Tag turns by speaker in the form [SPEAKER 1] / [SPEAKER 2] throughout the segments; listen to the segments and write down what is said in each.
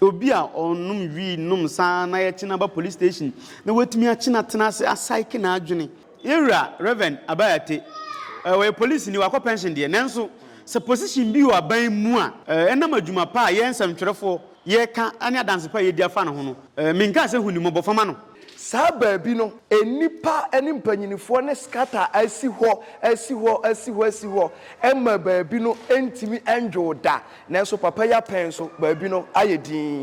[SPEAKER 1] Obi a ɔnom wii nom saa na yɛkye no aba police station na watumi akye no atena ase asaeke n'adwene. Yɛn Wura Rev. Abayate, ɔyɛ polisini, wakɔ pɛnhyen deɛ, nanso sɛ position bi wɔ aban mu a, ɛnam adwuma pa a yɛn nsɛmtwerɛfoɔ yɛka ne adanse pa a yɛdi afa ne ho no, menkaa sɛ hunummɔbɔfa ma no. Saa baabi no,
[SPEAKER 2] nnipa ne mpanimfoɔ no scatter asi hɔ, asi hɔ, asi hɔ, asi hɔ, ɛma baabi no ntumi nnwoo da. Nanso papa yi apɛn so, baabi no ayɛ dinn.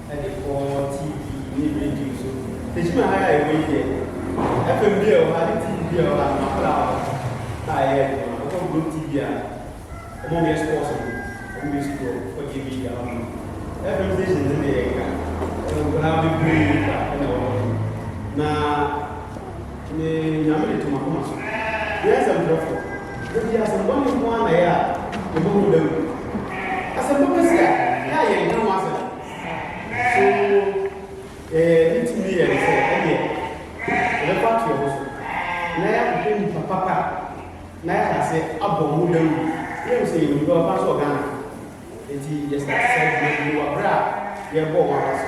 [SPEAKER 3] de kɔ TV ne radio so. Tegyina ha a ɛwɔ yi deɛ, FM bi a ɛwɔ ha ne TV bi a ɛwɔ ha no, m'akwadaa wɔ ha a ɛyɛ adwuma. Wokɔ Globe TV a, wɔyɛ sports no, wɔyɛ sukuu hɔ, wokɔ JB de ahɔ no. FM stations no deɛ yɛnka, nkwadaa bebree kwa na ɛwɔ hɔ nom. Na me Nyame de to m'akoma so. Meyɛ nsɛmtwerɛfoɔ. Da bi asɛm bɔne nko ara na ɛyɛ a yɛbɛhu da mu. Asɛm pa bɛsi a, yɛ a yɛnka ho asɛm. So yɛyɛ ne tumi yɛ ne sɛ ɛdeɛ yɛbɛkɔ ato yɛn ho so na yɛahwehwɛ nnipa papa na yɛahyɛ aseɛ abɔ mu dawuru na yɛahu sɛ yɛwɔ nnipa papa nso wɔ Ghana ha? Enti yɛsrɛ sɛ yɛbɛbɔ wɔ berɛ a yɛrebɔ wɔn afa so.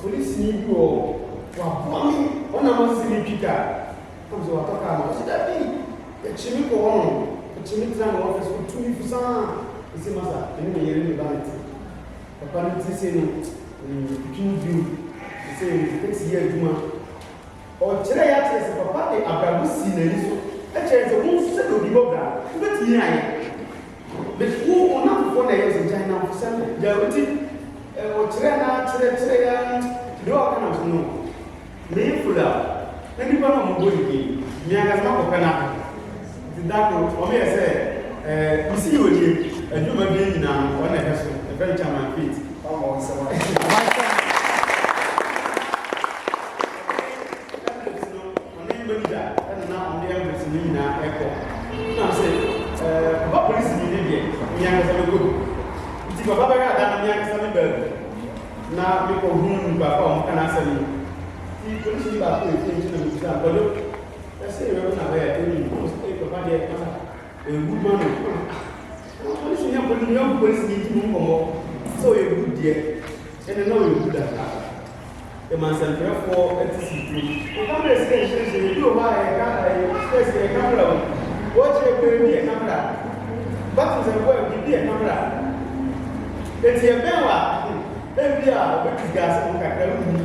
[SPEAKER 3] Polisini bi wɔ hɔ, waboa me, hɔ na masi retwi ka. Nam sɛ watɔ kaa no. Ɔse, Dabi, yɛkye me kɔ hɔnom. Ɔkye me tena ne ɔfese, ɔtu me fo saa. Mese, Masa, me ne me yere ne me ba na ɛte. Papa no tiri sei no, metwitwi no bio. Ɔse, Mete yɛ adwuma. Ɔkyerɛ yɛ akyerɛ sɛ papa de abrabɔ sii n'ani so kyerɛ sɛ wo nsɛ na obi bɔ bra no wobɛtumi ayɛ but wo wo namfofoɔ na ɛyɛ ɔsɛ gyae namfo sɛ no gyae woti ɔkyerɛ na kyerɛ kyerɛ ya de wa ɔka namfo no meyɛ fula na nipa no ɔmobɔ ne din meankasa makɔpɛ no Da kor, wɔyɛɛ sɛ misii onyin, edwuma bie nyina hɔn na ɛbɛso, yɛfrɛ no Chairman Fate, ɔama wo nsɛm ato gua. Emirates no, ɔne manager na
[SPEAKER 1] na wɔde envelopes no nyina kɔ, nna ɔse, Papa Policenyi ne deɛ, me ankasa mekɔ bi, ntsi Papa bɛyɛ ada no me ankasa me baa bi na mekɔ hun nyimpaako a wɔka n'asɛm no, ntsi Policenyi baako epuei nti na mibisaa no, Kwadwo, Ɛsɛ yɛ bɛbɛ na bɛ yɛ ɛni mu ɔsɛ ɛyɛ papa deɛ pasa ɔyɛ good man o ah na polisi nyɛ polisi nyɛ ɔkò polisi ni di mu nkɔmɔ sɛ ɔyɛ good deɛ ɛnɛ na ɔyɛ good ampa yɛ ma nsɛmtwerɛfoɔ ɛti si duro. Yɛ camera si yɛn nkyɛn nkyɛn ebi wɔ hɔ a yɛ ka ɛyɛ sɛ si yɛ camera o wɔ kyerɛ bɛ ebi yɛ camera batum sɛ bɔ ebi ebi yɛ camera eti yɛ bɛn wa ebi a ɔbɛ disgase mu kakra wuli.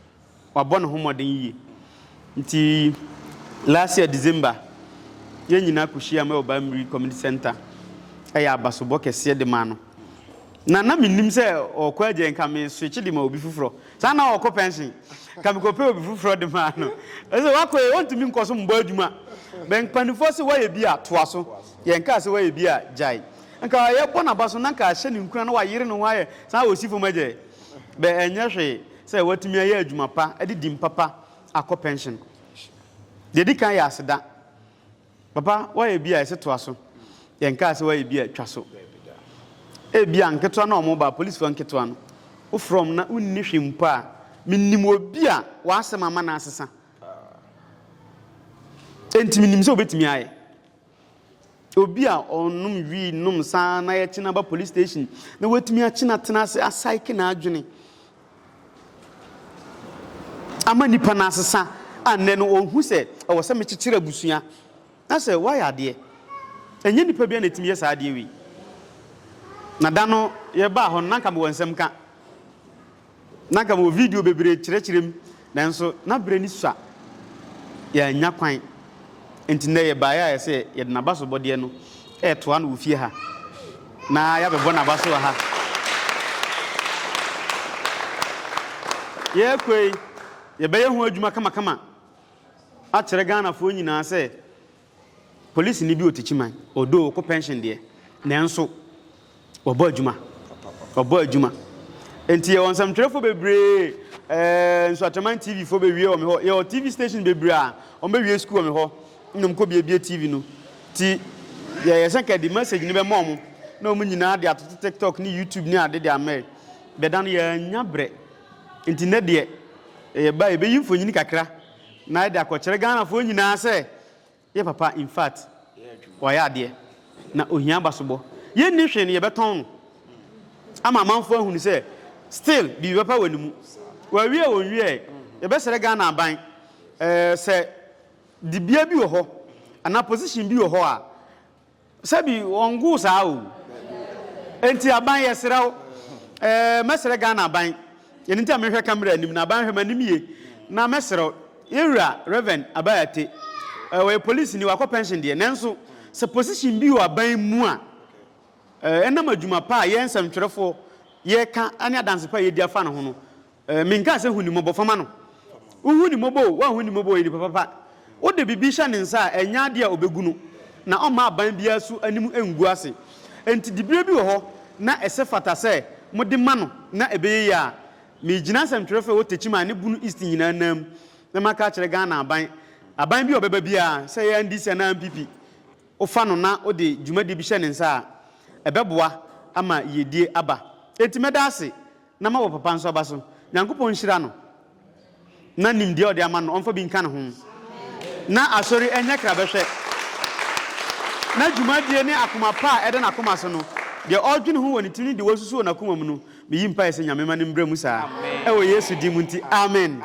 [SPEAKER 4] wabɔ ne ho mmɔden yiye. Nti last year December, yɛn nyinaa kohyiaam wɔ Bamiri Community Centre. Ɛyɛ abasobɔ kɛseɛ de maa no. Na na mennim sɛ ɔɔkɔ agya yi, nka me switch de ma obi foforɔ. Saa na ɔɔkɔ pension, nka me kɔpɛ obi foforɔ de maa no. Ɛsɛ wakɔ yi, ɔntumi nkɔ so mbɔ adwuma. Bɛ mpanifoɔ se wayɛ bi a, toa so. Yɛn kaa se wayɛ bi a, gyae. Nka yɛbɔ n'aba so, na nka ahyɛ ne nkuran na wayere ne ho ayɛ saa a, ɔsi fam agya yi. Bɛ ɛnyɛ hwee. Sɛ woatumi ayɛ adwuma pa de din papa akɔ pɛnhyen. Deɛ ɛdi kan yɛ aseda. Papa, woayɛ bi a ɛsɛ toa so. Yɛnkaa sɛ woayɛ bi a twa so. Ebia nketewa no a wɔba, apolisifoɔ nketewa no, wofrɛ wɔn na wonni hwee mpo a, menim obi a w'asɛm ama no asesa. Enti menim sɛ wobɛtumi ayɛ. Obi a ɔnom wii nom saa na yɛkye no aba police station na watumi akye no atena ase asaeke n'adwene ama nipa no asesa a nnɛ no ɔhu sɛ ɛwɔ sɛ mekyekyere abusua na sɛ woayɛ adeɛ ɛnyɛ nipa bia na ɛtumi yɛ saa adeɛ wei na da no yɛbaa hɔ no na nka mewɔ nsɛm ka Ná anka mewɔ video bebree rekyerɛkyerɛ mu, nanso na bere ani sua, yɛannya kwan. Enti nnɛ yɛbae a ɛsɛ sɛ yɛde n'abasobɔdeɛ no retoa no wɔ fie ha, na yɛabɛbɔ n'aba so wɔ ha. Yɛrekɔ yi, yɛbɛyɛ ho adwuma kamakama akyerɛ Ghanafoɔ nyinaa sɛ Polisini bi ɔte Kyiman, although ɔkɔ pension deɛ, nanso ɔbɔ adwuma, ɔbɔ adwuma. Nti yɛwɔ nsɛmtwerɛfoɔ bebree, eh, Nsuatreman TV foɔ bɛwie wɔ me hɔ, yɛwɔ TV station bebree a wɔbɛwie sukuu wɔ me hɔ na wɔkɔbuebue TV no. Nti yɛyɛ sɛ nka yɛde message no bɛma wɔn na wɔn nyinaa de atoto TikTok ne YouTube ne ade de ama yɛn. Dada no yɛannya berɛ, nti nnɛ deɛ yɛba a yɛbɛyi mfonini kakra Na yɛde akɔkyerɛ Ghanafoɔ nyinaa sɛ yɛ papa in fact wayɛ adeɛ na ohia abasobɔ. Yɛnni hwee no yɛbɛtɔn no ama amanfoɔ ahunu sɛ still biribi papa wɔ ne mu. Wɔawie a wɔnwieɛ, yɛbɛsrɛ Ghana aban sɛ dibea bi wɔ hɔ anaa position bi wɔ hɔ a, Sɛbi wɔngoo saa o. Enti aban yɛsrɛ wo eh, mɛsrɛ Ghana aban, ɛno nti na mehwɛ camera anim no, aban hwɛ m'anim yie na mɛsrɛ wo, yɛn wura Rev. Abai Ate, eh, ɔyɛ polisini, wakɔ pension deɛ, nanso sɛ position bi wɔ aban mu a, eh, ɛnam adwuma pa a yɛn nsɛmtwerɛfoɔ yɛka ne adanse pa a yɛdi afa ne ho no, Eh, menkaa sɛ hu ne mmɔbɔ, fama no. Wohu ne mmɔbɔ o, woanhu ne mmɔbɔ o, ɔyɛ nipa papa. Wode biribi hyɛ ne nsa a, ɛnyɛ adeɛ a ɔbɛgu no, na ɔmma aban biara so anim ngu ase. Enti diberɛ bi wɔ hɔ na ɛsɛ fata sɛ mode ma no na ɛbɛyɛ yie a, megyina asɛmtwerɛfoɔ a ɛwɔ Techiman ne Bono East nyinaa nan na maka akyerɛ Ghana aban, aban bi a ɔbɛba biara, sɛ ɛyɛ NDC anaa NPP, wofa no na wode dwumadie bi hyɛ ne nsa a, ɛbɛboa ama yiedie aba. Enti mɛda ase. Na ma wɔ papa nso aba so. Nyankopɔn nhyira no na nimdeɛ ɔde ama no ɔmfa bi nka ne ho na asɔre ɛnyɛ krabɛhwɛ na dwumadie ne akoma pa a ɛda n'akoma so no deɛ ɔredwene ho wɔ ne tirim ne deɛ wasusu wɔ n'akoma mu no meyi mpaeɛ sɛ Nyame ma no mbrɛ mu saa ɛwɔ Yesu din mu nti Amen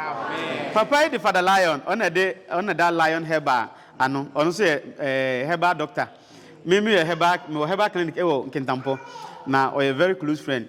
[SPEAKER 4] Papa yi de Father Lion ɔna ɛde ɔna da Lion Herbal ano ɔno nso yɛ eh, Herbal Doctor me meyɛ Herbal mewɔ Herbal Clinic ɛwɔ Nkintampɔ na ɔyɛ very close friend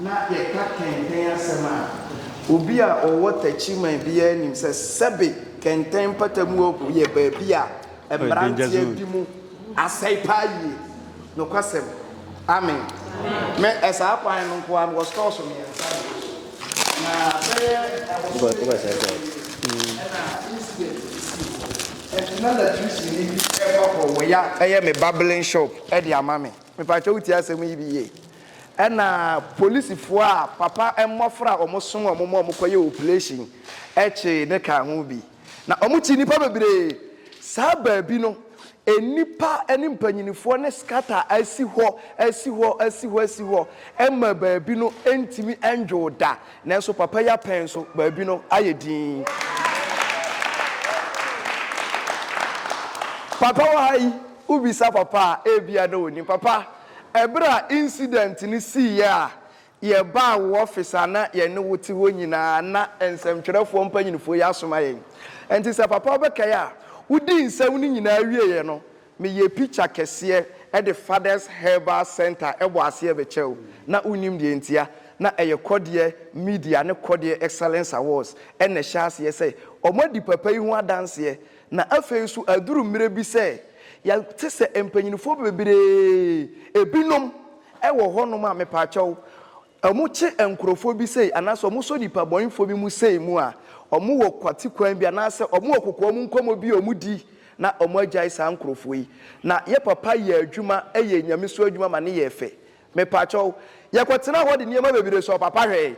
[SPEAKER 2] Ná yɛka kɛntɛn asɛm a, obi a ɔwɔ takyiman biara nim sɛ sɛbe kɛntɛn mpatamu hɔ yɛ baabi a mmeranteɛ di mu asɛe paa yie. Nokwasɛm. Amen. Me, saa kwan no nko ara mewɔ stores mmiɛnsa wɔ hɔ. Na bɛyɛ ɛbosome kakra bi nie na incident bi sii hɔ. Ɛnti na latricini bi reba hɔ wɔ ya bɛyɛ me barbling shop de ama me. Mpakyɛw wotie asɛm yi bi yie? Ɛna polisifo a papa mmɔfra a wɔn soma wɔn ma wɔn kɔyɛ operation kyee no kaa ho bi. Na wɔn kyi nnipa bebree. Saa baabi no nnipa ne mpanyinfoɔ no scatter asi hɔ asi hɔ asi hɔ asi hɔ ma baabi no ntumi ndwoo da. Nanso papa yi apɛn so baabi no ayɛ dinn. Papa wɔ ha yi. Wobisa papa a, ebia na onim. Papa, bere a incident no siiɛ a, yɛbaa wo office a na yɛne wo te hɔ nyinaa, na nsɛmtwerɛfoɔ mpanyinfoɔ yi asoma yɛn. Ɛnti sɛ papa wobɛkae a, wodii nsɛm no nyinaa wieeɛ no, meyɛɛ picture kɛseɛ de Father's Herbal Centre bɔɔ aseɛ bɛkyɛɛ wo. Na wonim deɛ ntia. Na ɛyɛ Kɔdeɛ Media ne Kɔdeɛ Excellence Awards na ɛhyɛɛ aseɛ sɛ wɔadi papa yi ho adanseɛ. Na afei nso aduru mmerɛ bi sɛ yɛte sɛ mpanyinfoɔ bebree, ebinom wɔ hɔ nom a mepaakyɛw wɔn kye nkorɔfoɔ bi sei anaasɛ wɔn sɔ nipa bɔnefoɔ bi mu sei mu a, wɔn wɔ kwati kwan bi anaasɛ wɔn wɔ kokoam nkɔmɔ bi a wɔn di na wɔn agyae saa nkorɔfoɔ yi. Na yɛ papa yɛ adwuma yɛ Nyame so adwuma ma ne yɛɛ fɛ. Mepaakyɛw yɛkɔ tenaa hɔ de nneɛma bebree sɔɔ papa hwɛɛ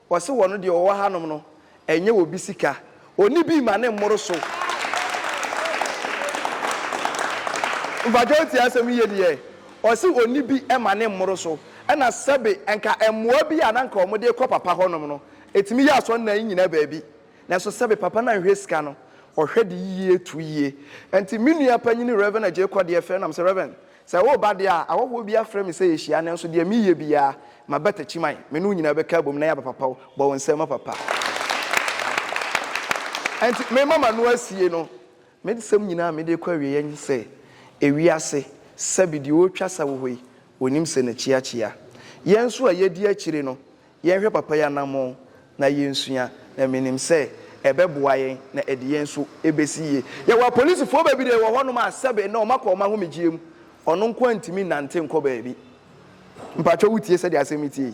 [SPEAKER 2] Wɔse wɔno deɛ ɔwɔ hanom no ɛnyɛ obi sika ɔni bii ma ne mmoro so. Mpakyɛ wotie asɛm yi yie deɛ ɔse ɔni bi ma ne mmoro so ɛna sɛbe nka mmoa bi a na nka wɔn de kɔ papa hɔnom no ɛtumi yɛ asɔ nnan nyina baabi nanso sɛbe papa no anhwɛ sika no ɔhwɛ de yie to yie nti me nua panyini Rev Agyei Kɔdeɛ frɛ nam sɛ Rev. Sɛ woreba deɛ a, ahɔhoɔ biara frɛ me sɛ yɛhyia, nanso deɛ mereyɛ biara, m'abatakyi man, me ne wo nyinaa bɛka abom na yɛaba papa o, bɔ wo nsam ma papa. Ɛnti merema m'ano asie no, me nsɛm nyinaa a mede rekɔ awieɛ nye sɛ, ewiase, sɛbe deɛ ɔretwa sa wɔ hɔ yi, ɔnim sɛ n'akyi akyea. Yɛn nso a yɛdi akyire no, Yɛnhwɛ papa yi anammɔn na yensua, na minim sɛ ɛbɛboa yɛn na ɛde yɛn nso besi yiye. Yɛwɔ apolisifo bebree wɔ hɔnom a sɛbe nnɛ wɔakɔ wɔn ahomegye mu. Ɔno nko ara ntumi nnante nkɔ baabi. Mpakyɛw wutie sɛnea asɛm no teɛ yi?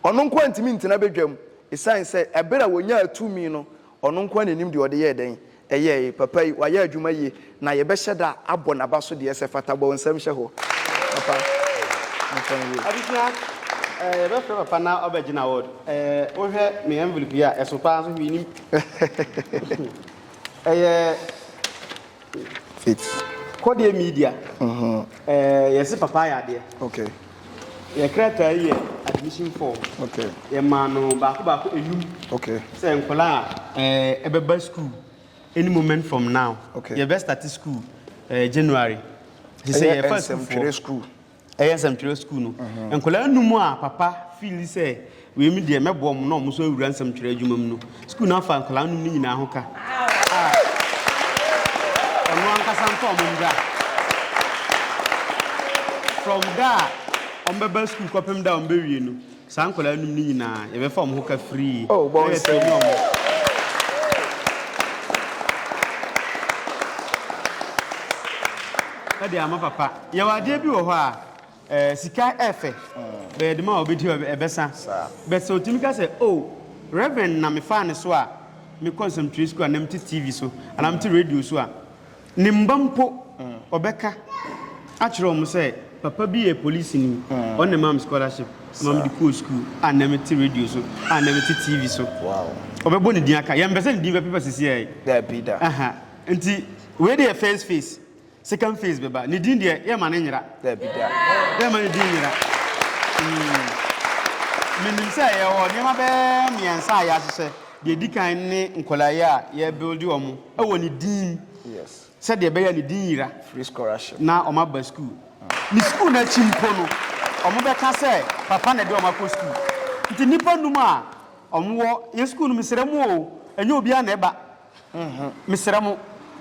[SPEAKER 2] Ɔno nko ara ntumi ntena badwam esiane sɛ bere a onyaa tumi no, ɔno nko ara na onim deɛ ɔde yɛɛ dɛn. Ɛyɛ e, papa yi wayɛ adwuma yie na yɛbɛhyɛ da abɔ naba so deɛ sɛ fata bɔ wo nsam hyɛ hɔ papa nka
[SPEAKER 4] yie. Abusua eh, yɛbɛ frɛ papa na ɔbɛ gyina award eh, wo hwɛ me envelope yi a ɛso paa nso hwii nim ɛyɛ
[SPEAKER 2] Faith. Kɔdeɛ media
[SPEAKER 4] mm -hmm. eh, yɛse papa ayɛ adeɛ okay.
[SPEAKER 2] Yɛ
[SPEAKER 4] krataa yi yɛ admission form. Okay. Yɛ maa
[SPEAKER 2] no
[SPEAKER 4] baako baako enum. Okay. Sɛ nkɔla
[SPEAKER 2] a
[SPEAKER 4] ɛɛ eh, ɛbɛba school any moment from now. Okay. Yɛ bɛ start
[SPEAKER 2] school
[SPEAKER 4] ɛɛ eh, January. Sɛ yɛ fa school fo. Ɛyɛ nsɛmtwerɛ school.
[SPEAKER 2] Ɛyɛ nsɛmtwerɛ
[SPEAKER 4] school no. Mhm. Nkɔla enum a papa feel sɛ. Wei me deɛ mɛboa wɔn na wɔn nso awura nsɛmtwerɛ adwuma mu no. Sukuu no afa nkwadaa nom no nyinaa ho ka a ɔno ankasa nfa wɔn mbra. From da a wɔn bɛba sukuu kɔpem da a wɔn bɛwie no, saa nkwadaa nom no nyinaa yɛbɛfa wɔn ho ka free na yɛatrɛni
[SPEAKER 2] wɔn.
[SPEAKER 4] Ɛde ama papa. Yɛwɔ adeɛ bi wɔ hɔ a. Sika ɛfɛ bɛyɛ dema a ɔbɛdi hɔ ɛbɛsa but sɛ ɔtumi ka sɛ oh Reverend na mefaa ne so a mekɔ nsɛmtwerɛ sukuu anaa mete TV so anaa mete radio so a ne mma mpo ɔbɛka akyerɛ wɔn sɛ papa bi yɛ polisini ɔno na ɛmaa me scholarship ma mede kɔɔ sukuu a na mete radio so a na mete TV so ɔbɛbɔ
[SPEAKER 2] ne din aka
[SPEAKER 4] yɛmpɛ sɛ ne din bɛpepa sisi ɛɛ
[SPEAKER 2] nti
[SPEAKER 4] wei de yɛ first phase Second phase bɛba. Ne din deɛ, yɛmma no nyera. Daabi da.
[SPEAKER 2] Yɛmma ne din nyera.
[SPEAKER 4] Mm. Menim sɛ yɛwɔ nneɛma bɛyɛ mmiɛnsa a yɛahyehyɛ. Deɛ ɛdi kan ne nkwadaa yi a yɛbuilde wɔn wɔ ne din mu. Yes. Sɛdeɛ
[SPEAKER 2] ɛbɛyɛ ne din
[SPEAKER 4] nyera. Free scholarship. Na
[SPEAKER 2] wɔn aba sukuu.
[SPEAKER 4] Ne sukuu no akyi mpo no, wɔn bɛka sɛ papa na ɛde wɔn akɔ sukuu. Nti nnipa num a wɔn wɔ yɛn sukuu no mu srɛ mu o, ɛnyɛ obiara na ɛba. ho. Mesrɛ mo,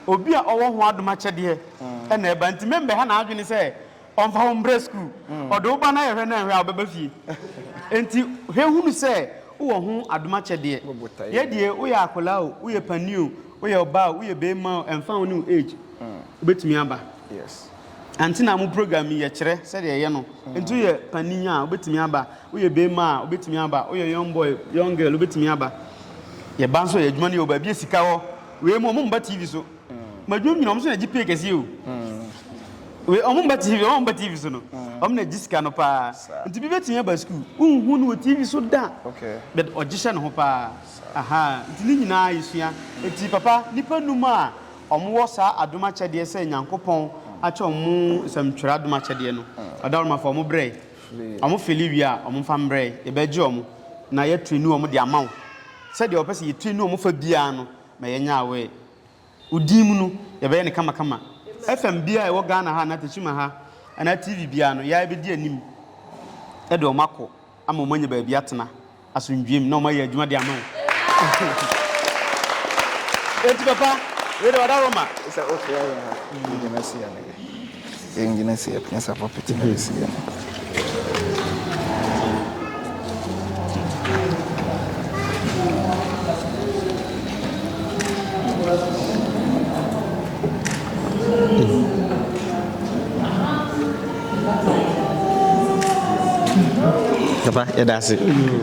[SPEAKER 4] obi a ɔwɔ ho adom akyɛdeɛ na ɛba, nti memmɛha n'adwene sɛ ɔmfa wo mbrɛ sukuu. Ɔde wo ba no ayɛ hwɛ na nhwɛ a ɔbɛba fie. Enti hwɛ hunu sɛ wowɔ ho adom akyɛdeɛ. Yɛ deɛ, woyɛ akwadaa o, woyɛ panin o, woyɛ ɔbaa o, woyɛ barima o, ɛmfa ho ne wo age, wobɛtumi aba.
[SPEAKER 2] Ante na mo
[SPEAKER 4] program yi yɛ kyerɛ sɛdeɛ ɛyɛ no. Nti woyɛ panin a wobɛtumi aba, woyɛ bɛrima a wobɛtumi aba, woyɛ young boy, young girl wobɛtumi aba. Yɛba nso yɛ adwuma no yɛ wɔ baabi a sika hɔ. Wei mu ɔmo mba TV so. Ma adwuma nyina ɔmo so na gye pay kɛseɛ o. Wei ɔmo mba TV, ɔmo mba TV so no. Ɔmo na gye sika no paa. Nti bi bɛtumi aba sukuu, wonhu no wɔ TV so da. But ɔgye
[SPEAKER 2] hyɛ ne ho
[SPEAKER 4] paa. Aha, nti ne nyinaa yɛsua. Nti papa, nnipa nnum a Wɔwɔ saa adom akyɛdeɛ sɛ Nyankopɔn akyɛ wɔn mu nsɛm twerɛ adom akyɛdeɛ no. Ɔdawurumafo, wɔn brɛ. Wɔn fili wie a, wɔn mfa mbrɛ. Yɛbɛgye wɔn, na yɛatirinu wɔn de ama wo. Sɛdeɛ wɔpɛ sɛ yɛtirinu wɔn fa biara no, ma yɛnyɛ aware. Wo din mu no, yɛbɛyɛ no kamakama. FM biara a ɛwɔ Ghana ha anaa Techiman ha, anaa TV biara no, yɛa yɛbɛdi anim de wɔn akɔ ama wɔn anya baabi atena. asomdwoe mu na wɔayɛ adwuma de ama wo. Enti papa, wei deɛ ɔda Roma. Sɛ wofrɛ yɛn
[SPEAKER 2] a, yɛgyina si yɛn nan. Yɛngyina si yɛn nan sɛ pulpit na yɛsi yɛn
[SPEAKER 5] nan. Papa, yɛda ase.